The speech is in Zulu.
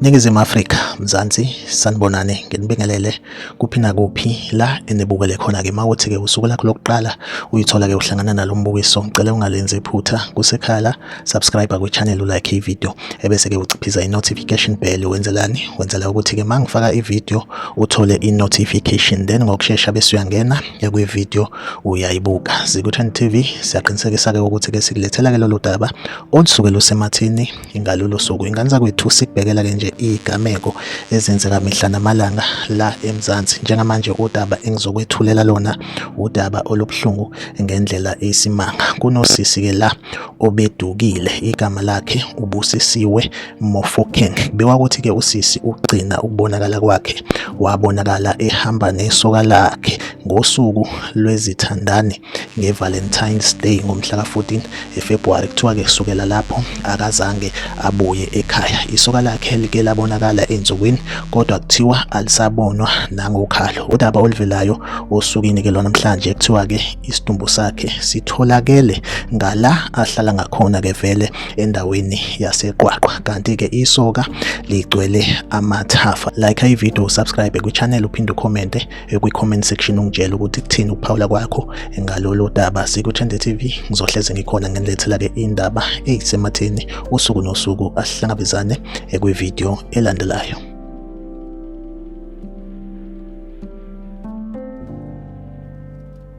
Ningizimu Afrika, Mzansi, sanibonani, nginibingelele kuphi nakuphi la enibukele khona ke mawuthi ke usuku lakho lokuqala uyithola ke uhlangana nalombukiso, ngicela ungalenzi iphutha kusekhala subscribe kwichannel ulike ivideo ebese ke uciphiza i-notification bell wenzelani wenzela ukuthi ke mangifaka ivideo uthole i-notification then ngokushesha bese uyangena kwivideo uyayibuka Zikuthen TV siyaqinisekisa ke ukuthi ke sikulethela ke lolu daba olusuke lusemathini ingalolu suku ingane zakwethu sikubhekela ke nje igameko ezenzeka mihla namalanga la eMzansi njengamanje udaba engizokwethulela lona udaba olubuhlungu ngendlela eyisimanga kunosisi ke la obedukile igama lakhe ubusisiwe Mofokeng kubikwa ukuthi ke usisi ugcina ukubonakala kwakhe wabonakala ehamba nesoka lakhe ngosuku lwezithandani ngeValentine's Day ngomhla ka-14 eFebruary kuthiwa ke kusukela lapho akazange abuye ekhaya isoka lakhe like labonakala ensukwini kodwa kuthiwa alisabonwa nangokhalo udaba oluvelayo osukwini ke lwanamhlanje kuthiwa ke isidumbu sakhe sitholakele ngala ahlala ngakhona ke vele endaweni yaseqwaqwa kanti ke isoka ligcwele amathafa like ivideo subscribe kwichannel uphinde ucommente eh, kwi-comment section ungitshela ukuthi kuthini ukuphawula kwakho ngalolu daba sikuthende tv ngizohleze ngikhona ngenilethela-ke indaba eyisematheni usuku nosuku asihlangabezane eh, kwividiyo elandelayo